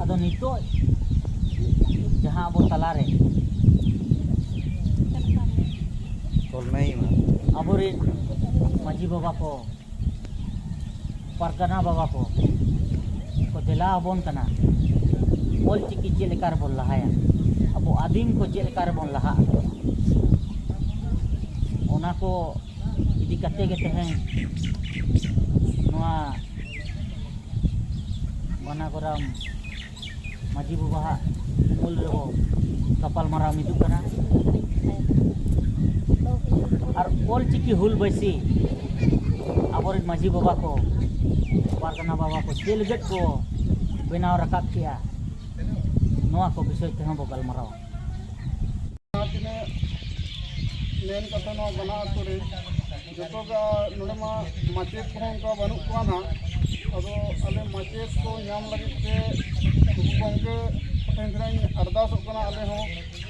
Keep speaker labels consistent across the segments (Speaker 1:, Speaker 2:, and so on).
Speaker 1: ᱟᱫᱚ ᱱᱤᱛᱚᱜ ᱡᱟᱦᱟᱸ ᱟᱵᱚ ᱛᱟᱞᱟᱨᱮ ᱟᱵᱚᱨᱮᱱ ᱢᱟᱺᱡᱷᱤ ᱵᱟᱵᱟ ᱠᱚ ᱯᱟᱨᱜᱟᱱᱟ ᱵᱟᱵᱟ ᱠᱚ ᱠᱚ ᱫᱮᱞᱟ ᱟᱵᱚᱱ ᱠᱟᱱᱟ ᱚᱞ ᱪᱤᱠᱤ ᱪᱮᱫ ᱞᱮᱠᱟ ᱨᱮᱵᱚᱱ ᱞᱟᱦᱟᱭᱟ ᱟᱵᱚ ᱟᱹᱫᱤᱢ ᱠᱚ ᱪᱮᱫ ᱞᱮᱠᱟ ᱨᱮᱵᱚᱱ ᱞᱟᱦᱟᱜᱼᱟ ᱚᱱᱟ ᱠᱚ ᱤᱫᱤ ᱠᱟᱛᱮ ᱜᱮ ᱛᱮᱦᱮᱧ ᱱᱚᱣᱟ ᱵᱟᱱᱟᱜᱚᱨᱟᱢ ᱢᱟᱹᱡᱷᱤ ᱵᱟᱵᱟᱦᱟᱜ ᱩᱢᱩᱞ ᱨᱮᱵᱚ ᱜᱟᱯᱟᱞ ᱢᱟᱨᱟᱣ ᱢᱤᱫᱩᱜ ᱠᱟᱱᱟ ᱟᱨ ᱚᱞ ᱪᱤᱠᱤ ᱦᱩᱞ ᱵᱟᱹᱭᱥᱤ ᱟᱵᱚᱨᱮᱱ ᱢᱟᱹᱡᱷᱤ ᱵᱟᱵᱟ ᱠᱚ ᱯᱟᱨᱜᱟᱱᱟ ᱵᱟᱵᱟ ᱠᱚ ᱪᱮᱫ ᱞᱟᱹᱜᱤᱫ ᱠᱚ ᱵᱮᱱᱟᱣ ᱨᱟᱠᱟᱵ ᱠᱮᱜᱼᱟ ᱱᱚᱣᱟ ᱠᱚ ᱵᱤᱥᱚᱭ ᱛᱮᱦᱚᱸ ᱵᱚ ᱜᱟᱞᱢᱟᱨᱟᱣᱟ ᱡᱟᱦᱟᱸ ᱛᱤᱱᱟᱹᱜ
Speaker 2: ᱢᱮᱱ ᱠᱟᱛᱷᱟ ᱱᱚᱣᱟ ᱵᱟᱱᱟ ᱟᱹᱛᱩ ᱨᱮ ᱡᱚᱛᱚ ᱜᱮ ᱱᱚᱰᱮ ᱢᱟ ᱢᱟᱪᱮᱫ ᱠᱚᱦᱚᱸ ᱚᱱᱠᱟ ᱵᱟᱹᱱᱩᱜ ᱠᱚᱣᱟ ᱱᱟᱦᱟᱜ ᱟᱫᱚ ᱟᱞᱮ ᱢᱟᱪᱮᱫ ᱠᱚ ᱧᱟᱢ ᱞᱟᱹᱜᱤᱫ ᱛᱮ ᱜᱩᱨᱩ ᱜᱚᱢᱠᱮ ᱴᱷᱮᱱ ᱠᱷᱚᱱᱟᱧ ᱟᱨᱫᱟᱥᱚᱜ ᱠᱟᱱᱟ ᱟᱞᱮ ᱦᱚᱸ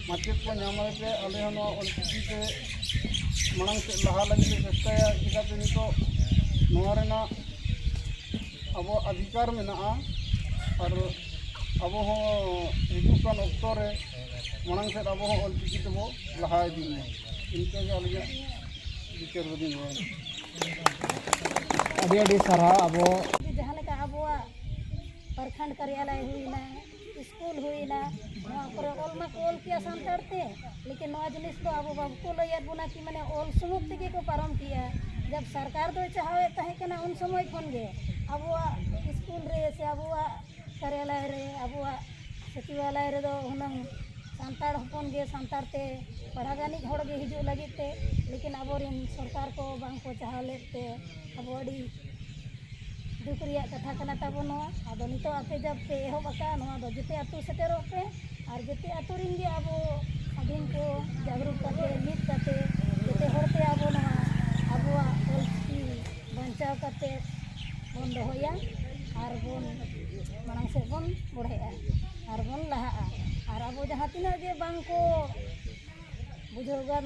Speaker 2: ᱢᱟᱪᱮᱫ ᱠᱚ ᱧᱟᱢ ᱞᱟᱹᱜᱤᱫ ᱛᱮ ᱟᱞᱮ ᱦᱚᱸ ᱱᱚᱣᱟ ᱚᱞᱪᱤᱠᱤ ᱛᱮ ᱢᱟᱲᱟᱝ ᱥᱮᱫ ᱞᱟᱦᱟ ᱞᱟᱹᱜᱤᱫ ᱞᱮ ᱪᱮᱥᱴᱟᱭᱟ ᱪᱤᱠᱟᱛᱮ ᱱᱤᱛᱚᱜ ᱱᱚᱣᱟ ᱨᱮᱱᱟᱜ ᱟᱵᱚᱣᱟᱜ ᱚᱫᱷᱤᱠᱟᱨ ᱢᱮᱱᱟᱜᱼᱟ ᱟᱨ ᱟᱵᱚ ᱦᱚᱸ ᱦᱤᱡᱩᱜ ᱠᱟᱱ ᱚᱠᱛᱚ ᱨᱮ ᱢᱟᱲᱟᱝ ᱥᱮᱫ ᱟᱵᱚ ᱦᱚᱸ ᱚᱞ ᱪᱤᱠᱤ ᱛᱮᱵᱚ ᱞᱟᱦᱟ ᱤᱫᱤᱜ ᱢᱟ ᱤᱱᱠᱟᱹ ᱜᱮ ᱟᱹᱞᱤᱧᱟᱜ ᱵᱤᱪᱟᱹᱨ ᱫᱚᱞᱤᱧ ᱞᱟᱹᱭᱟ ᱟᱹᱰᱤ ᱟᱹᱰᱤ ᱥᱟᱨᱦᱟᱣ ᱟᱵᱚ ᱡᱟᱦᱟᱸ ᱞᱮᱠᱟ ᱟᱵᱚᱣᱟᱜ ᱯᱨᱚᱠᱷᱚᱸᱰ ᱠᱟᱨᱭᱟᱞᱚᱭ ᱦᱩᱭᱱᱟ
Speaker 3: ᱥᱠᱩᱞ ᱦᱩᱭᱱᱟ ᱱᱚᱣᱟ ᱠᱚᱨᱮ ᱚᱞ ᱢᱟᱠᱚ ᱚᱞ ᱠᱮᱜᱼᱟ ᱥᱟᱱᱛᱟᱲ ᱛᱮ ᱞᱮᱠᱤᱱ ᱱᱚᱣᱟ ᱡᱤᱱᱤᱥ ᱫᱚ ᱟᱵᱚ ᱵᱟᱠᱚ ᱞᱟᱹᱭᱟᱫ ᱵᱚᱱᱟ ᱠᱤ ᱢᱟᱱᱮ ᱚᱞ ᱥᱩᱢᱩᱝ ᱛᱮᱜᱮ ᱠᱚ ᱯᱟᱨᱚᱢ ᱠᱮᱜᱼᱟ ᱡᱚᱵᱽ ᱥᱚᱨᱠᱟᱨ ᱫᱚᱭ ᱪᱟᱦᱟᱣᱮᱫ ᱛᱟᱦᱮᱸ ᱠᱟᱱᱟ ᱩᱱ ᱥᱚᱢᱚᱭ ᱠᱷᱚᱱ ᱜᱮ ᱟᱵᱚᱣᱟᱜ ᱥᱠᱩᱞ ᱨᱮ ᱥᱮ ᱟᱵᱚᱣᱟᱜ ᱠᱟᱨᱭᱟᱞᱚᱭ ᱨᱮ ᱟᱵᱚᱣᱟᱜ ᱥᱚᱪᱤᱵᱟᱞᱚᱭ ᱨᱮᱫᱚ ᱦᱩᱱᱟᱹᱝ ᱥᱟᱱᱛᱟᱲ ᱦᱚᱯᱚᱱ ᱜᱮ ᱥᱟᱱᱛᱟᱲ ᱛᱮ ᱯᱟᱲᱦᱟᱣ ᱜᱟᱱᱤᱡ ᱦᱚᱲ ᱜᱮ ᱦᱤᱡᱩᱜ ᱞᱟᱹᱜᱤᱫ ᱛᱮ ᱞᱮᱠᱤᱱ ᱟᱵᱚ ᱨᱮᱱ ᱥᱚᱨᱠᱟᱨ ᱠᱚ ᱵᱟᱝ ᱠᱚ ᱪᱟᱦᱟᱣ ᱞᱮᱫ ᱛᱮ ᱟᱵᱚ ᱟᱹᱰᱤ ᱫᱩᱠ ᱨᱮᱭᱟᱜ ᱠᱟᱛᱷᱟ ᱠᱟᱱᱟ ᱛᱟᱵᱚᱱ ᱱᱚᱣᱟ ᱟᱫᱚ ᱱᱤᱛᱚᱜ ᱟᱯᱮ ᱡᱟᱵᱽ ᱯᱮ ᱮᱦᱚᱵ ᱟᱠᱟᱫᱼᱟ ᱱᱚᱣᱟ ᱫᱚ ᱡᱮᱛᱮ ᱟᱹᱛᱩ ᱥᱮᱴᱮᱨᱚᱜ ᱯᱮ ᱟᱨ ᱡᱮᱛᱮ ᱟᱹᱛᱩ ᱨᱮᱱ ᱜᱮ ᱟᱵᱚ ᱟᱹᱫᱤᱢ ᱠᱚ ᱡᱟᱜᱽᱨᱩᱠ ᱠᱟᱛᱮᱫ ᱢᱤᱫ ᱠᱟᱛᱮᱫ ᱡᱮᱛᱮ ᱦᱚᱲ ᱛᱮ ᱟᱵᱚ ᱱᱚᱣᱟ ᱟᱵᱚᱣᱟᱜ ᱚᱞ ᱪᱤᱠᱤ ᱵᱟᱧᱪᱟᱣ ᱠᱟᱛᱮᱫ ᱵᱚᱱ ᱫᱚᱦᱚᱭᱟ ᱟᱨ ᱵᱚᱱ ᱢᱟᱲᱟᱝ ᱥᱮᱫ ᱵᱚᱱ ᱵᱚᱲᱦᱮᱜᱼᱟ ᱟᱨ ᱵᱚᱱ ᱞᱟᱦᱟᱜᱼᱟ ᱟᱨ ᱟᱵᱚ ᱡᱟᱦᱟᱸ ᱛᱤᱱᱟᱹᱜ ᱜᱮ ᱵᱟᱝ ᱠᱚ ᱵᱩᱡᱷᱟᱹᱣ ᱜᱟᱱ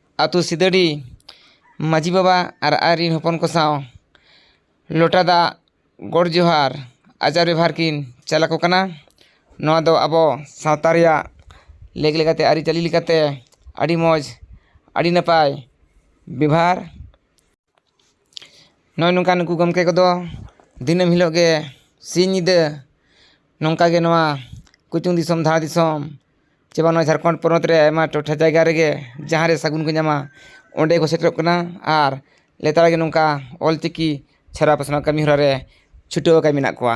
Speaker 4: ᱟᱹᱛᱩ ᱥᱤᱫᱟᱹᱰᱤ ᱢᱟᱺᱡᱷᱤ ᱵᱟᱵᱟ ᱟᱨ ᱟᱡ ᱨᱮᱱ ᱦᱚᱯᱚᱱ ᱠᱚ ᱥᱟᱶ ᱞᱚᱴᱟ ᱫᱟᱜ ᱜᱚᱰ ᱡᱚᱦᱟᱨ ᱟᱪᱟᱨ ᱵᱮᱵᱷᱟᱨ ᱠᱤᱱ ᱪᱟᱞ ᱟᱠᱚ ᱠᱟᱱᱟ ᱱᱚᱣᱟ ᱫᱚ ᱟᱵᱚ ᱥᱟᱶᱛᱟ ᱨᱮᱭᱟᱜ ᱞᱮᱠ ᱞᱮᱠᱟᱛᱮ ᱟᱹᱨᱤᱪᱟᱹᱞᱤ ᱞᱮᱠᱟᱛᱮ ᱟᱹᱰᱤ ᱢᱚᱡᱽ ᱟᱹᱰᱤ ᱱᱟᱯᱟᱭ ᱵᱮᱵᱷᱟᱨ ᱱᱚᱜᱼᱚᱭ ᱱᱚᱝᱠᱟ ᱱᱩᱠᱩ ᱜᱚᱢᱠᱮ ᱠᱚᱫᱚ ᱫᱤᱱᱟᱹᱢ ᱦᱤᱞᱳᱜ ᱜᱮ ᱥᱤᱧ ᱧᱤᱫᱟᱹ ᱱᱚᱝᱠᱟ ᱜᱮ ᱱᱚᱣᱟ ᱠᱩᱪᱩᱝ ᱫᱤᱥᱚᱢ ᱫᱷᱟᱲ ᱫᱤᱥᱚᱢ ᱪᱮ ᱵᱟᱝ ᱱᱚᱣᱟ ᱡᱷᱟᱲᱠᱷᱚᱸᱰ ᱯᱚᱱᱚᱛ ᱨᱮ ᱟᱭᱢᱟ ᱴᱚᱴᱷᱟ ᱡᱟᱭᱜᱟ ᱨᱮᱜᱮ ᱡᱟᱦᱟᱸ ᱨᱮ ᱥᱟᱹᱜᱩᱱ ᱠᱚ ᱧᱟᱢᱟ ᱚᱸᱰᱮ ᱠᱚ ᱥᱮᱴᱮᱨᱚᱜ ᱠᱟᱱᱟ ᱟᱨ ᱞᱮᱛᱟᱲ ᱜᱮ ᱱᱚᱝᱠᱟ ᱚᱞ ᱪᱤᱠᱤ ᱪᱷᱟᱨᱟᱣ ᱯᱟᱥᱱᱟᱣ ᱠᱟᱹᱢᱤ ᱦᱚᱨᱟ ᱨᱮ ᱪᱷᱩᱴᱟᱹᱣ ᱟᱠᱟᱱ ᱢᱮᱱᱟᱜ ᱠᱚᱣᱟ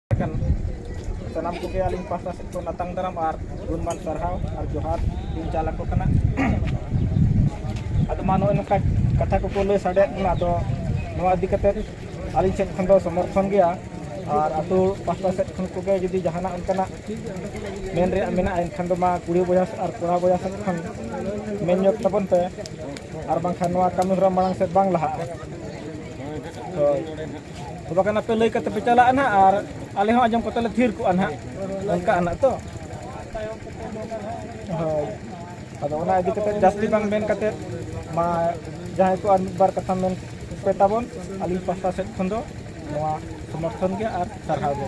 Speaker 2: ᱥᱟᱱᱟᱢ ᱠᱚᱜᱮ ᱟᱹᱞᱤᱧ ᱯᱟᱦᱴᱟ ᱥᱮᱫ ᱠᱷᱚᱱ ᱟᱛᱟᱝ ᱫᱟᱨᱟᱢ ᱟᱨ ᱜᱩᱱᱢᱟᱱ ᱥᱟᱨᱦᱟᱣ ᱟᱨ ᱡᱚᱦᱟᱨ ᱞᱤᱧ ᱪᱟᱞ ᱟᱠᱚ ᱠᱟᱱᱟ ᱟᱫᱚ ᱢᱟ ᱱᱚᱜᱼᱚᱭ ᱱᱚᱝᱠᱟ ᱠᱟᱛᱷᱟ ᱠᱚᱠᱚ ᱞᱟᱹᱭ ᱥᱟᱰᱮᱭᱟᱫ ᱵᱚᱱᱟ ᱟᱫᱚ ᱱᱚᱣᱟ ᱤᱫᱤ ᱠᱟᱛᱮᱫ ᱟᱹᱞᱤᱧ ᱥᱮᱫ ᱠᱷᱚᱱ ᱫᱚ ᱥᱚᱢᱚᱨᱛᱷᱚᱱ ᱜᱮᱭᱟ ᱟᱨ ᱟᱛᱳ ᱯᱟᱦᱴᱟ ᱥᱮᱫ ᱠᱷᱚᱱ ᱠᱚᱜᱮ ᱡᱩᱫᱤ ᱡᱟᱦᱟᱱᱟᱜ ᱚᱱᱠᱟᱱᱟᱜ ᱢᱮᱱ ᱨᱮᱭᱟᱜ ᱢᱮᱱᱟᱜᱼᱟ ᱮᱱᱠᱷᱟᱱ ᱫᱚ ᱢᱟ ᱠᱩᱲᱤ ᱵᱚᱭᱦᱟ ᱟᱨ ᱠᱚᱲᱟ ᱵᱚᱭᱦᱟ ᱥᱮᱫ ᱠᱷᱚᱱ ᱢᱮᱱ ᱧᱚᱜ ᱛᱟᱵᱚᱱ ᱯᱮ ᱟᱨ ᱵᱟᱝᱠᱷᱟᱱ ᱱᱚᱣᱟ ᱠᱟᱹᱢᱤ ᱦᱚᱨᱟ ᱢᱟᱲᱟᱝ ᱥᱮᱫ ᱵᱟᱝ ᱞᱟᱦᱟᱜᱼᱟ ᱦᱳᱭ ᱛᱚ ᱵᱟᱠᱷᱟᱱ ᱟᱯᱮ ᱞᱟᱹᱭ ᱠᱟᱛᱮ ᱯᱮ ᱪᱟᱞᱟᱜᱼᱟ ᱱᱟᱦᱟᱜ ᱟᱨ ᱟᱞᱮ ᱦᱚᱸ ᱟᱸᱡᱚᱢ ᱠᱟᱛᱮ ᱞᱮ ᱛᱷᱤᱨ ᱠᱚᱜᱼᱟ ᱱᱟᱦᱟᱜ ᱚᱱᱠᱟ ᱟᱱᱟᱜ ᱛᱚ ᱦᱳᱭ ᱟᱫᱚ ᱚᱱᱟ ᱤᱫᱤ ᱠᱟᱛᱮ ᱡᱟᱹᱥᱛᱤ ᱵᱟᱝ ᱢᱮᱱ ᱠᱟᱛᱮ ᱢᱟ ᱡᱟᱦᱟᱸᱭ ᱠᱚ ᱟᱨ ᱢᱤᱫ ᱵᱟᱨ ᱠᱟᱛᱷᱟ ᱢᱮᱱ ᱯᱮ ᱛᱟᱵᱚᱱ ᱟᱹᱞᱤᱧ ᱯᱟᱥᱴᱟ ᱥᱮᱫ ᱠᱷᱚᱱ ᱫᱚ ᱱᱚᱣᱟ ᱥᱚᱢᱚᱨᱛᱷᱚᱱ ᱜᱮ ᱟᱨ ᱥᱟᱨᱦᱟᱣ ᱜᱮ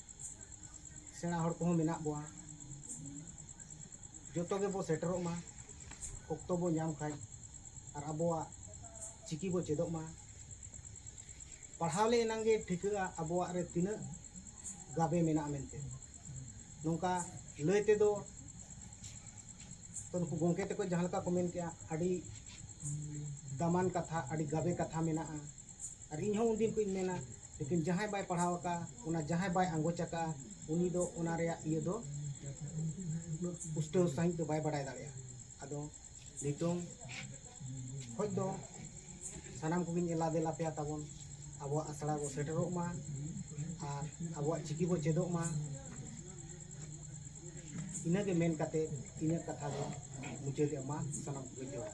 Speaker 5: ᱥᱮᱬᱟ ᱦᱚᱲ ᱠᱚᱦᱚᱸ ᱢᱮᱱᱟᱜ ᱵᱚᱣᱟ ᱡᱚᱛᱚ ᱜᱮᱵᱚ ᱥᱮᱴᱮᱨᱚᱜ ᱢᱟ ᱚᱠᱛᱚ ᱵᱚ ᱧᱟᱢ ᱠᱷᱟᱱ ᱟᱨ ᱟᱵᱚᱣᱟᱜ ᱪᱤᱠᱤ ᱵᱚ ᱪᱮᱫᱚᱜ ᱢᱟ ᱯᱟᱲᱦᱟᱣ ᱞᱮ ᱮᱱᱟᱝ ᱜᱮ ᱴᱷᱤᱠᱟᱹᱜᱼᱟ ᱟᱵᱚᱣᱟᱜ ᱨᱮ ᱛᱤᱱᱟᱹᱜ ᱜᱟᱵᱮ ᱢᱮᱱᱟᱜᱼᱟ ᱢᱮᱱᱛᱮ ᱱᱚᱝᱠᱟ ᱞᱟᱹᱭ ᱛᱮᱫᱚ ᱛᱚ ᱱᱩᱠᱩ ᱜᱚᱢᱠᱮ ᱛᱟᱠᱚ ᱡᱟᱦᱟᱸ ᱞᱮᱠᱟ ᱠᱚ ᱢᱮᱱ ᱠᱮᱜᱼᱟ ᱟᱹᱰᱤ ᱫᱟᱢᱟᱱ ᱠᱟᱛᱷᱟ ᱟᱹᱰᱤ ᱜᱟᱵᱮ ᱠᱟᱛᱷᱟ ᱢᱮᱱᱟᱜᱼᱟ ᱟᱨ ᱤᱧ ᱦᱚᱸ ᱩᱱ ᱫᱤᱱ ᱠᱷᱚᱱ ᱤᱧ ᱢᱮᱱᱟ ᱞᱮᱠᱤᱱ ᱡᱟᱦᱟᱸᱭ ᱵᱟᱭ ᱯᱟᱲᱦᱟᱣ ᱟᱠᱟᱫᱼᱟ ᱚᱱᱟ ᱡᱟᱦᱟᱸᱭ ᱵᱟᱭ ᱟᱸᱜᱚᱪ ᱟᱠᱟᱫᱼᱟ ᱩᱱᱤ ᱫᱚ ᱚᱱᱟ ᱨᱮᱭᱟᱜ ᱤᱭᱟᱹ ᱫᱚ ᱩᱱᱟᱹᱜ ᱯᱩᱥᱴᱟᱹᱣ ᱥᱟᱺᱦᱤᱡ ᱫᱚ ᱵᱟᱭ ᱵᱟᱰᱟᱭ ᱫᱟᱲᱮᱭᱟᱜᱼᱟ ᱟᱫᱚ ᱱᱤᱛᱚᱝ ᱠᱷᱚᱱ ᱫᱚ ᱥᱟᱱᱟᱢ ᱠᱚᱜᱮᱧ ᱮᱞᱟ ᱫᱮᱞᱟ ᱟᱯᱮᱭᱟ ᱛᱟᱵᱚᱱ ᱟᱵᱚᱣᱟᱜ ᱟᱥᱲᱟ ᱵᱚᱱ ᱥᱮᱴᱮᱨᱚᱜ ᱢᱟ ᱟᱨ ᱟᱵᱚᱣᱟᱜ ᱪᱤᱠᱤ ᱵᱚᱱ ᱪᱮᱫᱚᱜ ᱢᱟ ᱤᱱᱟᱹᱜᱮ ᱢᱮᱱ ᱠᱟᱛᱮᱫ ᱤᱧᱟᱹᱜ ᱠᱟᱛᱷᱟ ᱫᱚ ᱢᱩᱪᱟᱹᱫᱮᱜᱼᱟ ᱢᱟ ᱥᱟᱱᱟᱢ ᱠᱚᱜᱮ ᱡᱚᱦᱟᱨ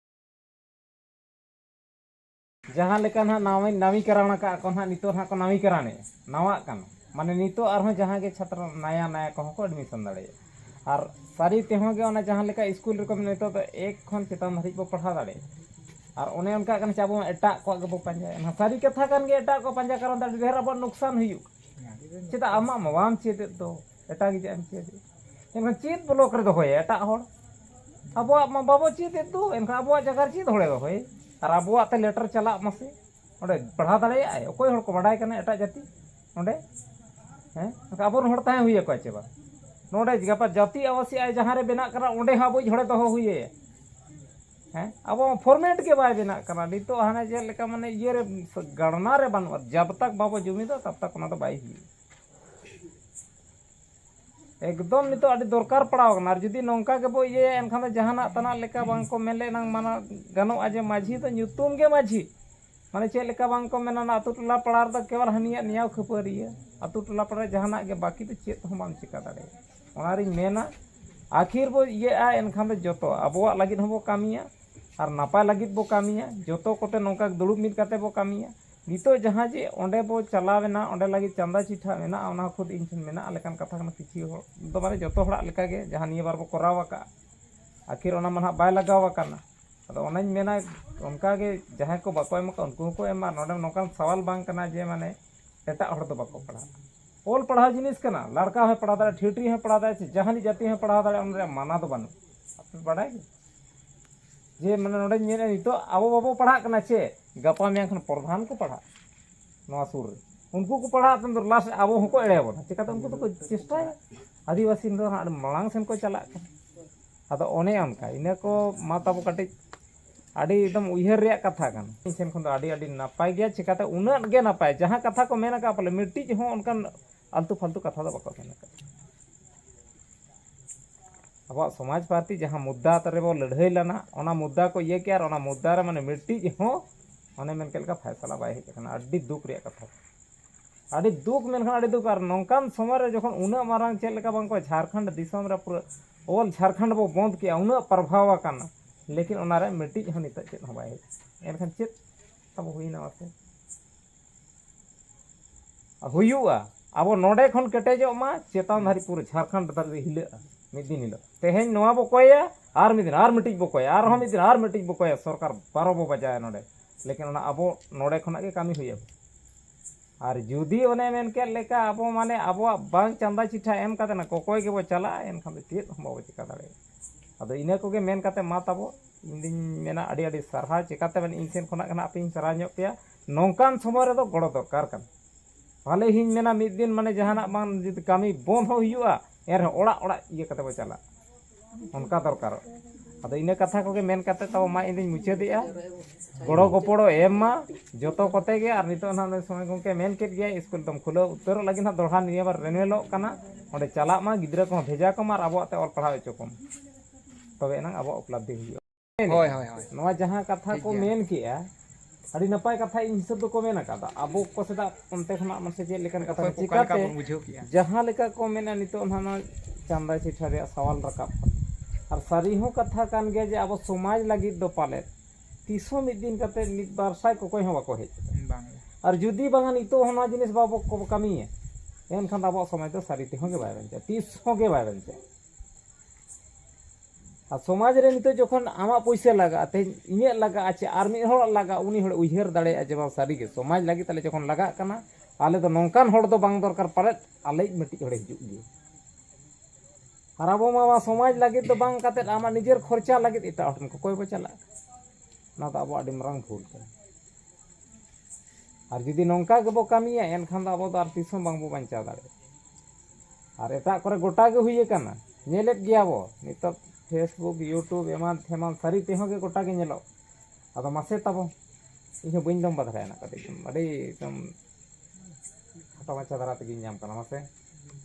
Speaker 6: ᱡᱟᱦᱟᱸ ᱞᱮᱠᱟ ᱱᱟᱦᱟᱜ ᱱᱟᱣᱟ ᱱᱟᱢᱤᱠᱟᱨᱟᱱ ᱟᱠᱟᱫ ᱠᱚ ᱱᱟᱦᱟᱜ ᱱᱤᱛᱚᱜ ᱱᱟᱦᱟᱜ ᱠᱚ ᱱᱟᱢᱤᱠᱟᱨᱟᱱᱮᱫ ᱱᱟᱣᱟᱜ ᱠᱟᱱᱟ ᱢᱟᱱᱮ ᱱᱤᱛᱚᱜ ᱟᱨᱦᱚᱸ ᱡᱟᱦᱟᱸ ᱜᱮ ᱪᱷᱟᱛᱨᱚ ᱱᱟᱭᱟ ᱱᱟᱭᱟ ᱠᱚᱦᱚᱸ ᱠᱚ ᱮᱰᱢᱤᱥᱚᱱ ᱫᱟᱲᱮᱭᱟᱜᱼᱟ ᱟᱨ ᱥᱟᱹᱨᱤ ᱛᱮᱦᱚᱸ ᱜᱮ ᱚᱱᱟ ᱡᱟᱦᱟᱸ ᱞᱮᱠᱟ ᱥᱠᱩᱞ ᱨᱮᱠᱚ ᱢᱮᱱᱟ ᱱᱤᱛᱚᱜ ᱫᱚ ᱮᱠ ᱠᱷᱚᱱ ᱪᱮᱛᱟᱱ ᱫᱷᱟᱹᱨᱤᱡ ᱵᱚᱱ ᱯᱟᱲᱦᱟᱣ ᱫᱟᱲᱮᱭᱟᱜᱼᱟ ᱟᱨ ᱚᱱᱮ ᱚᱱᱠᱟᱜ ᱠᱟᱱᱟ ᱪᱮ ᱟᱵᱚ ᱢᱟ ᱮᱴᱟᱜ ᱠᱚᱣᱟᱜ ᱜᱮᱵᱚᱱ ᱯᱟᱸᱡᱟᱭᱟ ᱮᱱᱠᱷᱟᱱ ᱥᱟᱹᱨᱤ ᱠᱟᱛᱷᱟ ᱠᱟᱱ ᱜᱮᱭᱟ ᱮᱴᱟᱜ ᱠᱚᱣᱟᱜ ᱯᱟᱸᱡᱟ ᱠᱟᱨᱚᱱ ᱫᱚ ᱟᱹᱰᱤ ᱰᱷᱮᱨ ᱟᱵᱚᱣᱟᱜ ᱞᱚᱠᱥᱟᱱ ᱦᱩᱭᱩᱜ ᱠᱟᱱᱟ ᱪᱮᱫᱟᱜ ᱟᱢᱟᱜ ᱢᱟ ᱵᱟᱢ ᱪᱮᱫᱮᱫ ᱫᱚ ᱮᱴᱟᱜ ᱜᱮ ᱪᱮᱫ ᱮᱢ ᱪᱮᱫ ᱮᱱᱠᱷᱟᱱ ᱪᱮᱫ ᱵᱞᱚᱠ ᱨᱮ ᱫᱚᱦᱚᱭᱮ ᱮᱴᱟᱜ ᱦᱚᱲ ᱟᱵᱚᱣᱟᱜ ᱢᱟ ᱵᱟᱵᱚ ᱪᱮᱫ ᱮᱫ ᱫᱚ ᱮᱱᱠᱷᱟᱱ ᱟᱵᱚᱣᱟᱜ ᱡᱟᱭᱜᱟ ᱨᱮ ᱪᱮᱫ ᱦᱚᱲᱮ ᱫᱚᱦᱚᱭᱮ ᱟᱨ ᱟᱵᱚᱣᱟᱜ ᱛᱮ ᱞᱮᱴᱟᱨ ᱪᱟᱞᱟᱜ ᱢᱟᱥᱮ ᱚᱸᱰᱮ ᱯᱟᱲᱦᱟᱣ ᱫᱟᱲᱮᱭᱟᱜ ᱟᱭ ᱚᱠᱚᱭ ᱦᱚᱲ ᱠᱚ ᱵᱟᱰᱟᱭ ᱠᱟᱱᱟ ᱮᱴᱟᱜ ᱡᱟᱹᱛᱤ ᱚᱸᱰᱮ ᱦᱮᱸ ᱮᱱᱠᱷᱟᱱ ᱟᱵᱚ ᱨᱮᱱ ᱦᱚᱲ ᱛᱟᱦᱮᱸ ᱦᱩᱭ ᱟᱠᱚᱣᱟ ᱥᱮ ᱵᱟᱝ ᱱᱚᱸᱰᱮ ᱜᱟᱯᱟ ᱡᱟᱹᱛᱤ ᱟᱵᱟᱥᱤ ᱟᱡ ᱡᱟᱦᱟᱸ ᱨᱮ ᱵᱮᱱᱟᱜ ᱠᱟᱱᱟ ᱚᱸᱰᱮ ᱦᱚᱸ ᱟᱵᱚᱭᱤᱡ ᱦᱚᱲᱮ ᱫᱚᱦᱚ ᱦᱩᱭ ᱟᱭᱟ ᱦᱮᱸ ᱟᱵᱚ ᱢᱟ ᱯᱷᱚᱨᱢᱮᱴ ᱜᱮ ᱵᱟᱭ ᱵᱮᱱᱟᱜ ᱠᱟᱱᱟ ᱱᱤᱛᱚᱜ ᱦᱟᱱᱮ ᱪᱮᱫ ᱞᱮᱠᱟ ᱢᱟᱱᱮ ᱤᱭᱟᱹ ᱨᱮ ᱜᱟᱲᱱᱟ ᱨᱮ ᱵᱟᱹᱱᱩᱜᱼᱟ ᱡᱟᱵᱽ ᱛᱟᱠ ᱵᱟᱵᱚ ᱡᱩᱢᱤᱫᱟ ᱛᱟᱵᱽ ᱛᱟᱠ ᱚᱱᱟ ᱫᱚ ᱵᱟᱭ ᱦᱩᱭᱩᱜᱼᱟ ᱮᱠᱫᱚᱢ ᱱᱤᱛᱳᱜ ᱟᱹᱰᱤ ᱫᱚᱨᱠᱟᱨ ᱯᱟᱲᱟᱣ ᱠᱟᱱᱟ ᱟᱨ ᱡᱩᱫᱤ ᱱᱚᱝᱠᱟ ᱜᱮᱵᱚ ᱤᱭᱟᱹᱭᱟ ᱮᱱᱠᱷᱟᱱ ᱫᱚ ᱡᱟᱦᱟᱱᱟᱜ ᱛᱟᱱᱟᱜ ᱞᱮᱠᱟ ᱵᱟᱝ ᱠᱚ ᱢᱮᱱ ᱞᱮᱱᱟᱝ ᱢᱟᱱᱟᱣ ᱜᱟᱱᱚᱜᱼᱟ ᱡᱮ ᱢᱟᱹᱡᱷᱤ ᱫᱚ ᱧᱩᱛᱩᱢ ᱜᱮ ᱢᱟᱹᱡᱷᱤ ᱢᱟᱱᱮ ᱪᱮᱫ ᱞᱮᱠᱟ ᱵᱟᱝ ᱠᱚ ᱢᱮᱱᱟ ᱚᱱᱟ ᱟᱛᱳ ᱴᱚᱞᱟ ᱯᱟᱲᱟ ᱨᱮᱫᱚ ᱠᱮᱣᱚᱞ ᱦᱟᱹᱱᱤᱭᱟᱜ ᱱᱮᱭᱟᱣ ᱠᱷᱟᱹᱯᱟᱹᱨᱤᱭᱟᱹ ᱟᱛᱳ ᱴᱚᱞᱟ ᱯᱟᱲᱟ ᱨᱮ ᱡᱟᱦᱟᱱᱟᱜ ᱜᱮ ᱵᱟᱹᱠᱤ ᱫᱚ ᱪᱮᱫ ᱦᱚᱸ ᱵᱟᱢ ᱪᱮᱠᱟ ᱫᱟᱲᱮᱭᱟᱜᱼᱟ ᱚᱱᱟᱨᱤᱧ ᱢᱮᱱᱟ ᱟᱹᱠᱷᱤᱨ ᱵᱚ ᱤᱭᱟᱹᱜᱼᱟ ᱮᱱᱠᱷᱟᱱ ᱫᱚ ᱡᱚᱛᱚ ᱟᱵᱚᱣᱟᱜ ᱞᱟᱹᱜᱤᱫ ᱦᱚᱸᱵᱚ ᱠᱟᱹᱢᱤᱭᱟ ᱟᱨ ᱱᱟᱯᱟᱭ ᱞᱟᱹᱜᱤᱫ ᱵᱚ ᱠᱟᱹᱢᱤᱭᱟ ᱡᱚᱛᱚ ᱠᱚᱛᱮ ᱱᱚᱝᱠᱟ ᱫᱩᱲᱩᱵ ᱢᱤᱫ ᱠᱟᱛᱮ ᱵᱚ ᱠᱟᱹᱢᱤᱭᱟ ᱱᱤᱛᱚᱜ ᱡᱟᱦᱟᱸ ᱡᱮ ᱚᱸᱰᱮ ᱵᱚ ᱪᱟᱞᱟᱣ ᱮᱱᱟ ᱚᱸᱰᱮ ᱞᱟᱹᱜᱤᱫ ᱪᱟᱸᱫᱟ ᱪᱤᱴᱷᱟᱹ ᱢᱮᱱᱟᱜᱼᱟ ᱚᱱᱟ ᱦᱚᱸ ᱠᱷᱩᱫ ᱤᱧ ᱴᱷᱮᱱ ᱢᱮᱱᱟᱜᱼᱟ ᱞᱮᱠᱟᱱ ᱠᱟᱛᱷᱟ ᱠᱟᱱᱟ ᱠᱤᱪᱷᱩ ᱦᱚᱲ ᱫᱚ ᱢᱟᱱᱮ ᱡᱚᱛᱚ ᱦᱚᱲᱟᱜ ᱞᱮᱠᱟ ᱜᱮ ᱡᱟᱦᱟᱸ ᱱᱤᱭᱟᱹ ᱵᱟᱨ ᱵᱚ ᱠᱚᱨᱟᱣ ᱟᱠᱟᱫᱼᱟ ᱟᱹᱠᱷᱤᱨ ᱚᱱᱟ ᱢᱟ ᱱᱟᱜ ᱵᱟᱭ ᱞᱟᱜᱟᱣ ᱟᱠᱟᱱᱟ ᱟᱫᱚ ᱚᱱᱟᱧ ᱢᱮᱱᱟ ᱚᱱᱠᱟ ᱜᱮ ᱡᱟᱦᱟᱸᱭ ᱠᱚ ᱵᱟᱠᱚ ᱮᱢ ᱟᱠᱟᱫ ᱩᱱᱠᱩ ᱦᱚᱸᱠᱚ ᱮᱢ ᱢᱟ ᱱᱚᱰᱮ ᱱᱚᱝᱠᱟᱱ ᱥᱟᱶᱟᱞ ᱵᱟᱝ ᱠᱟᱱᱟ ᱡᱮ ᱢᱟᱱᱮ ᱮᱴᱟᱜ ᱦᱚᱲ ᱫᱚ ᱵᱟᱠᱚ ᱯᱟᱲᱦᱟᱜᱼᱟ ᱚᱞ ᱯᱟᱲᱦᱟᱣ ᱡᱤᱱᱤᱥ ᱠᱟᱱᱟ ᱞᱟᱲᱠᱟ ᱦᱚᱸᱭ ᱯᱟᱲᱦᱟᱣ ᱫᱟᱲᱮᱭᱟᱜᱼᱟ ᱴᱷᱤᱴᱨᱤ ᱦᱚᱸᱭ ᱯᱟᱲᱦᱟᱣ ᱫᱟᱲᱮᱭᱟᱜᱼᱟ ᱥᱮ ᱡᱟᱦᱟᱱᱤᱡ ᱡᱟᱹᱛᱤ ᱦᱚᱸᱭ ᱯᱟᱲᱦᱟᱣ ᱫᱟᱲᱮᱭᱟᱜᱼᱟ ᱚᱱᱟ ᱨᱮᱭᱟᱜ ᱢᱟᱱᱟ ᱫᱚ ᱵᱟᱹᱱᱩᱜᱼᱟ ᱟᱯᱮ ᱯᱮ ᱵᱟᱰᱟᱭ ᱜᱮᱭᱟ ᱡᱮ ᱢᱟᱱᱮ ᱱᱚᱰᱮᱧ ᱢᱮᱱᱮᱫᱼᱟ ᱱᱤᱛᱚᱜ ᱟᱵᱚ ᱵᱟᱵᱚ ᱯᱟᱲᱦᱟᱜ ᱠᱟᱱᱟ ᱪᱮᱫ ᱜᱟᱯᱟ ᱢᱮᱭᱟᱝ ᱠᱷᱚᱱ ᱯᱨᱚᱫᱷᱟᱱ ᱠᱚ ᱯᱟᱲᱦᱟᱜ ᱱᱚᱣᱟ ᱥᱩᱨ ᱨᱮ ᱩᱱᱠᱩ ᱠᱚ ᱯᱟᱲᱦᱟᱜ ᱛᱟᱭᱚᱢ ᱫᱚ ᱞᱟᱥᱴ ᱟᱵᱚ ᱦᱚᱸᱠᱚ ᱮᱲᱮ ᱵᱚᱱᱟ ᱪᱤᱠᱟᱹᱛᱮ ᱩᱱᱠᱩ ᱫᱚᱠᱚ ᱪᱮᱥᱴᱟᱭᱟ ᱟᱹᱫᱤᱵᱟᱹᱥᱤ ᱫᱚ ᱦᱟᱸᱜ ᱢᱟᱲᱟᱝ ᱥᱮᱱ ᱠᱚ ᱪᱟᱞᱟᱜ ᱠᱟᱱᱟ ᱟᱫᱚ ᱚᱱᱮ ᱚᱱᱠᱟ ᱤᱱᱟᱹ ᱠᱚ ᱢᱟ ᱛᱟᱵᱚ ᱠᱟᱹᱴᱤᱡ ᱟᱹᱰᱤ ᱮᱠᱫᱚᱢ ᱩᱭᱦᱟᱹᱨ ᱨᱮᱭᱟᱜ ᱠᱟᱛᱷᱟ ᱠᱟᱱᱟ ᱤᱧ ᱥᱮᱱ ᱠᱷᱚᱱ ᱫᱚ ᱟᱹᱰᱤ ᱟᱹᱰᱤ ᱱᱟᱯᱟᱭ ᱜᱮᱭᱟ ᱪᱤᱠᱟᱹᱛᱮ ᱩᱱᱟᱹᱜ ᱜᱮ ᱱᱟᱯᱟᱭ ᱡᱟᱦᱟᱸ ᱠᱟᱛᱷᱟ ᱠᱚ ᱢᱮᱱ ᱟᱠᱟᱫ ᱯᱟᱞᱮ ᱢᱤᱫᱴᱤᱡ ᱦᱚᱸ ᱚᱱᱠᱟᱱ ᱟᱞᱛᱩ ᱯᱷᱟᱞᱛᱩ ᱠᱟᱛᱷᱟ ᱫᱚ ᱵᱟᱠᱚ ᱢᱮᱱ ᱟᱠᱟᱫᱟ ᱟᱵᱚᱣᱟᱜ ᱥᱚᱢᱟᱡᱽ ᱯᱟᱨᱴᱤ ᱡᱟᱦᱟᱸ ᱢᱩᱫᱽᱫᱟ ᱨᱮᱵᱚ ᱞᱟᱹᱲᱦᱟᱹᱭ ᱞᱮᱱᱟ ᱚᱱᱟ ᱢᱩᱫᱽᱫᱟ ᱠᱚ ᱤᱭᱟᱹ ᱠᱮᱜᱼᱟ ᱟᱨ ᱚᱱᱟ ᱢᱩᱫᱽᱫᱟ ᱨᱮ ᱢᱟᱱᱮ ᱢᱤᱫᱴᱤᱡ ᱦᱚᱸ ᱚᱱᱮ ᱢᱮᱱ ᱠᱮᱫ ᱞᱮᱠᱟ ᱯᱷᱟᱭᱥᱟᱞᱟ ᱵᱟᱭ ᱦᱮᱡ ᱟᱠᱟᱱᱟ ᱟᱹᱰᱤ ᱫᱩᱠ ᱨᱮᱭᱟᱜ ᱠᱟᱛᱷᱟ ᱟᱹᱰᱤ ᱫᱩᱠ ᱢᱮᱱᱠᱷᱟᱱ ᱟᱹᱰᱤ ᱫᱩᱠ ᱟᱨ ᱱᱚᱝᱠᱟᱱ ᱥᱚᱢᱚᱭ ᱨᱮ ᱡᱚᱠᱷᱚᱱ ᱩᱱᱟᱹᱜ ᱢᱟᱨᱟᱝ ᱪᱮᱫ ᱞᱮᱠᱟ ᱵᱟᱝ ᱠᱚ ᱡᱷᱟᱲᱠᱷᱚᱸᱰ ᱫᱤᱥᱚᱢ ᱨᱮ ᱯᱩᱨᱟᱹ ᱚᱞ ᱡᱷᱟᱲᱠᱷᱚᱸᱰ ᱵᱚ ᱵᱚᱸᱫᱽ ᱠᱮᱜᱼᱟ ᱩᱱᱟᱹᱜ ᱯᱨᱚᱵᱷᱟᱣ ᱟᱠᱟᱱᱟ ᱞᱮᱠᱤᱱ ᱚᱱᱟ ᱨᱮ ᱢᱤᱫᱴᱤᱡ ᱦᱚᱸ ᱱᱤᱛᱚᱜ ᱪᱮᱫ ᱦᱚᱸ ᱵᱟᱭ ᱦᱮᱡ ᱟᱠᱟᱱᱟ ᱮᱱᱠᱷᱟᱱ ᱪᱮᱫ ᱛᱟᱵᱚ ᱦᱩᱭᱱᱟ ᱢᱟᱥᱮ ᱦᱩᱭᱩᱜᱼᱟ ᱟᱵᱚ ᱱᱚᱸᱰᱮ ᱠᱷᱚᱱ ᱠᱮᱴᱮᱡᱚᱜ ᱢᱟ ᱪᱮᱛᱟᱱ ᱫᱷᱟᱹᱨᱤᱡ ᱯᱩᱨᱟᱹ ᱡᱷᱟᱲᱠᱷᱚᱸᱰ ᱫᱷᱟᱹᱨᱤᱡ ᱫᱚ ᱦᱤᱞᱟᱹᱜᱼᱟ ᱢᱤᱫ ᱫᱤᱱ ᱦᱤᱞᱳᱜ ᱛᱮᱦᱮᱧ ᱱᱚᱣᱟ ᱵᱚ ᱠᱚᱭᱟ ᱟᱨ ᱢᱤᱫ ᱫᱤᱱ ᱟᱨ ᱢᱤᱫᱴᱤᱡ ᱵᱚ ᱠᱚᱭᱟ ᱟᱨᱦᱚᱸ ᱢᱤᱫ ᱫᱤᱱ ᱟᱨ ᱢᱤᱫᱴᱤᱡ ᱵᱚ ᱠᱚᱭᱟ ᱥᱚᱨᱠᱟᱨ ᱵᱟᱨᱚ ᱵᱚ ᱵᱟᱡᱟᱭᱟ ᱱᱚᱸᱰᱮ ᱞᱮᱠᱤᱱ ᱚᱱᱟ ᱟᱵᱚ ᱱᱚᱸᱰᱮ ᱠᱷᱚᱱᱟᱜ ᱜᱮ ᱠᱟᱹᱢᱤ ᱦᱩᱭᱟᱵᱚᱱᱟ ᱟᱨ ᱡᱩᱫᱤ ᱚᱱᱮ ᱢᱮᱱ ᱠᱮᱫ ᱞᱮᱠᱟ ᱟᱵᱚ ᱢᱟᱱᱮ ᱟᱵᱚᱣᱟᱜ ᱵᱟᱝ ᱪᱟᱸᱫᱟ ᱪᱤᱴᱷᱟ ᱮᱢ ᱠᱟᱛᱮ ᱠᱚᱠᱚᱭ ᱜᱮᱵᱚ ᱪᱟᱞᱟᱜᱼᱟ ᱮᱱᱠᱷᱟᱱ ᱫᱚ ᱪᱮᱫ ᱦᱚᱸ ᱵᱟᱵᱚ ᱪᱮᱠᱟ ᱫᱟᱲᱮᱭᱟᱜᱼᱟ ᱟᱫᱚ ᱤᱱᱟᱹ ᱠᱚᱜᱮ ᱢᱮᱱ ᱠᱟᱛᱮ ᱢᱟ ᱛᱟᱵᱚ ᱤᱧ ᱫᱩᱧ ᱢᱮᱱᱟ ᱟᱹᱰᱤ ᱟᱹᱰᱤ ᱥᱟᱨᱦᱟᱣ ᱪᱤᱠᱟᱹᱛᱮ ᱢᱟᱱᱮ ᱤᱧ ᱥᱮᱫ ᱠᱷᱚᱱᱟᱜ ᱜᱮ ᱱᱟᱦᱟᱜ ᱟᱯᱮᱧ ᱥᱟᱨᱦᱟᱣ ᱧᱚᱜ ᱯᱮᱭᱟ ᱱᱚᱝᱠᱟᱱ ᱥᱚᱢᱚᱭ ᱨᱮᱫᱚ ᱜᱚᱲᱚ ᱫᱚᱨᱠᱟᱨ ᱠᱟᱱᱟ ᱵᱷᱟᱞᱮ ᱜᱤᱧ ᱢᱮᱱᱟ ᱢᱤᱫ ᱫᱤᱱ ᱢᱟᱱᱮ ᱡᱟᱦᱟᱱᱟᱜ ᱵᱟᱝ ᱡᱩᱫᱤ ᱠᱟᱹᱢᱤ ᱵᱚᱱᱫᱷ ᱦᱚᱸ ᱦᱩᱭᱩᱜᱼᱟ ᱮᱱ ᱨᱮᱦᱚᱸ ᱚᱲᱟᱜ ᱚᱲᱟᱜ ᱤᱭᱟᱹ ᱠᱟᱛᱮᱫ ᱵᱚᱱ ᱪᱟᱞᱟᱜᱼᱟ ᱚᱱᱠᱟ ᱫᱚᱨᱠᱟᱨᱚᱜ ᱟᱫᱚ ᱤᱱᱟᱹ ᱠᱟᱛᱷᱟ ᱠᱚᱜᱮ ᱢᱮᱱ ᱠᱟᱛᱮᱫ ᱛᱟᱵᱚ ᱢᱟ ᱤᱧ ᱫᱩᱧ ᱢᱩᱪᱟᱹᱫᱮᱜᱼᱟ ᱜᱚᱲᱚ ᱜᱚᱯᱚᱲᱚ ᱮᱢ ᱢᱟ ᱡᱚᱛᱚ ᱠᱚᱛᱮ ᱜᱮ ᱟᱨ ᱱᱤᱛᱚᱜ ᱱᱟᱦᱟᱜ ᱱᱩᱭ ᱥᱚᱢᱟᱭ ᱜᱚᱢᱠᱮ ᱢᱮᱱ ᱠᱮᱫ ᱜᱮᱭᱟᱭ ᱥᱠᱩᱞ ᱫᱚᱢ ᱠᱷᱩᱞᱟᱹᱣ ᱩᱛᱟᱹᱨᱚᱜ ᱞᱟᱹᱜᱤᱫ ᱱᱟᱦᱟᱜ ᱫᱚᱦᱲᱟ ᱱᱤᱭᱟᱹ ᱵᱟᱨ ᱨᱤᱱᱩᱣᱮᱞᱚᱜ ᱠᱟᱱᱟ ᱚᱸᱰᱮ ᱪᱟᱞᱟᱜ ᱢᱟ ᱜᱤᱫᱽᱨᱟᱹ ᱠᱚᱦᱚᱸ ᱵᱷᱮᱡᱟ ᱠᱚᱢ ᱟᱨ ᱟᱵᱚᱣᱟᱜ ᱛᱮ ᱚᱞ ᱯᱟᱲᱦᱟᱣ ᱦᱚᱪᱚ ᱠᱚᱢ ᱛᱚᱵᱮ ᱮᱱᱟᱝ ᱟᱵᱚᱣᱟᱜ ᱩᱯᱞᱟᱵᱽᱫᱷᱤ ᱦᱩᱭᱩᱜᱼᱟ ᱦᱳᱭ ᱦᱳᱭ ᱦᱳᱭ
Speaker 4: ᱱᱚᱣᱟ ᱡᱟᱦᱟᱸ ᱠᱟᱛᱷᱟ ᱠᱚ
Speaker 6: ᱢᱮᱱ ᱠᱮᱜᱼᱟ ᱟᱹᱰᱤ ᱱᱟᱯᱟᱭ ᱠᱟᱛᱷᱟ ᱤᱧ ᱦᱤᱥᱟᱹᱵ ᱫᱚᱠᱚ ᱢᱮᱱ ᱟᱠᱟᱫᱟ ᱟᱵᱚ ᱠᱚ ᱥᱮᱫᱟᱜ ᱚᱱᱛᱮ ᱠᱷᱚᱱᱟᱜ ᱢᱟᱥᱮ ᱪᱮᱫ ᱞᱮᱠᱟᱱ ᱠᱟᱛᱷᱟ ᱪᱤᱠᱟᱛᱮ ᱡᱟᱦᱟᱸ ᱞᱮᱠᱟ ᱠᱚ ᱢᱮᱱᱟ ᱱᱤᱛᱚᱜ ᱱᱟᱦᱟᱜ ᱱᱚᱣᱟ ᱪᱟᱸᱫᱟ ᱪᱤᱴᱷᱟ ᱨᱮᱭᱟᱜ ᱥᱟᱣᱟᱞ ᱨᱟᱠᱟᱵ ᱟᱨ ᱥᱟᱹᱨᱤ ᱦᱚᱸ ᱠᱟᱛᱷᱟ ᱠᱟᱱ ᱜᱮᱭᱟ ᱡᱮ ᱟᱵᱚ ᱥᱚᱢᱟᱡᱽ ᱞᱟᱹᱜᱤᱫ ᱫᱚ ᱯᱟᱞᱮᱫ ᱛᱤᱥ ᱦᱚᱸ ᱢᱤᱫ ᱫᱤᱱ ᱠᱟᱛᱮ ᱢᱤᱫ ᱵᱟᱨ ᱥᱟᱭ ᱠᱚᱠᱚᱭ ᱦᱚᱸ ᱵᱟᱠᱚ ᱦᱮᱡ ᱟᱨ ᱡᱩᱫᱤ ᱵᱟᱝᱟ ᱱᱤᱛᱚᱜ ᱦᱚᱸ ᱱᱚᱣᱟ ᱡᱤᱱᱤᱥ ᱵᱟᱵᱚ ᱠᱟᱹᱢᱤᱭᱟ ᱮᱱᱠᱷᱟᱱ ᱟᱵᱚᱣᱟᱜ ᱥᱚᱢᱟᱡᱽ ᱫᱚ ᱥᱟᱹᱨᱤ ᱛᱮᱦᱚᱸ ᱜᱮ ᱵᱟᱭ ᱵᱟᱧᱪᱟᱜᱼᱟ ᱛᱤᱥ ᱦᱚᱸ ᱜᱮ ᱵᱟᱭ ᱵᱟᱧᱪᱟᱜᱼᱟ ᱟᱨ ᱥᱚᱢᱟᱡᱽ ᱨᱮ ᱱᱤᱛᱳᱜ ᱡᱚᱠᱷᱚᱱ ᱟᱢᱟᱜ ᱯᱩᱭᱥᱟᱹ ᱞᱟᱜᱟᱜᱼᱟ ᱛᱮᱦᱮᱧ ᱤᱧᱟᱹᱜ ᱞᱟᱜᱟᱜᱼᱟ ᱪᱮ ᱟᱨ ᱢᱤᱫ ᱦᱚᱲᱟᱜ ᱞᱟᱜᱟᱜᱼᱟ ᱩᱱᱤ ᱦᱚᱲᱮᱭ ᱩᱭᱦᱟᱹᱨ ᱫᱟᱲᱮᱭᱟᱜᱼᱟ ᱡᱮ ᱵᱟᱝ ᱥᱟᱹᱨᱤ ᱜᱮ ᱥᱚᱢᱟᱡᱽ ᱞᱟᱹᱜᱤᱫ ᱛᱟᱞᱮ ᱡᱚᱠᱷᱚᱱ ᱞᱟᱜᱟᱜ ᱠᱟᱱᱟ ᱟᱞᱮ ᱫᱚ ᱱᱚᱝᱠᱟᱱ ᱦᱚᱲ ᱫᱚ ᱵᱟᱝ ᱫᱚᱨᱠᱟᱨ ᱯᱟᱞᱮᱫ ᱟᱞᱮᱭᱤᱡ ᱢᱤᱫᱴᱤᱡ ᱦᱚᱲᱮᱭ ᱦᱤᱡᱩᱜ ᱜᱮ ᱟᱨ ᱟᱵᱚ ᱢᱟ ᱱᱚᱣᱟ ᱥᱚᱢᱟᱡᱽ ᱞᱟᱹᱜᱤᱫ ᱫᱚ ᱵᱟᱝ ᱠᱟᱛᱮ ᱟᱢᱟᱜ ᱱᱤᱡᱮᱨ ᱠᱷᱚᱨᱪᱟ ᱞᱟᱹᱜᱤᱫ ᱮᱴᱟᱜ ᱦᱚᱲ ᱴᱷᱮᱱ ᱠᱚᱠᱚᱭ ᱵᱚᱱ ᱪᱟᱞᱟᱜ ᱠᱟᱱᱟ ᱱᱚᱣᱟ ᱫᱚ ᱟᱵᱚᱣᱟᱜ ᱟᱹᱰᱤ ᱢᱟᱨᱟᱝ ᱵᱷᱩᱞ ᱠᱟᱱᱟ ᱟᱨ ᱡᱩᱫᱤ ᱱᱚᱝᱠᱟ ᱜᱮᱵᱚᱱ ᱠᱟᱹᱢᱤᱭᱟ ᱮᱱᱠᱷᱟᱱ ᱫᱚ ᱟᱵᱚ ᱫᱚ ᱟᱨ ᱛᱤᱥ ᱦᱚᱸ ᱵᱟᱝ ᱵᱚᱱ ᱵᱟᱧᱪᱟᱣ ᱫᱟᱲᱮᱭᱟᱜᱼᱟ ᱟᱨ ᱮᱴᱟᱜ ᱠᱚᱨᱮ ᱜᱚᱴᱟ ᱜᱮ ᱦᱩᱭ ᱟᱠᱟᱱᱟ ᱧᱮᱞᱮᱫ ᱜᱮᱭᱟ ᱵᱚ ᱱᱤᱛᱚᱜ ᱯᱷᱮᱥᱵᱩᱠ ᱤᱭᱩᱴᱩᱵᱽ ᱮᱢᱟᱱ ᱛᱮᱢᱟᱱ ᱥᱟᱹᱨᱤ ᱛᱮᱦᱚᱸ ᱜᱮ ᱜᱚᱴᱟ ᱜᱮ ᱧᱮᱞᱚᱜ ᱟᱫᱚ ᱢᱟᱥᱮ ᱛᱟᱵᱚ ᱤᱧ ᱦᱚᱸ ᱵᱟᱹᱧ ᱞᱚᱢᱵᱟ ᱫᱷᱟᱨᱟᱭᱟ ᱱᱟᱜ ᱠᱟᱹᱴᱤᱡ ᱟᱹᱰᱤ ᱮᱠᱫᱚᱢ ᱠᱷᱟᱴᱚ ᱢᱟᱪᱷᱟ ᱫᱷᱟᱨᱟ ᱛᱮᱜᱮᱧ ᱧᱟᱢ ᱠᱟᱱᱟ ᱢᱟᱥᱮ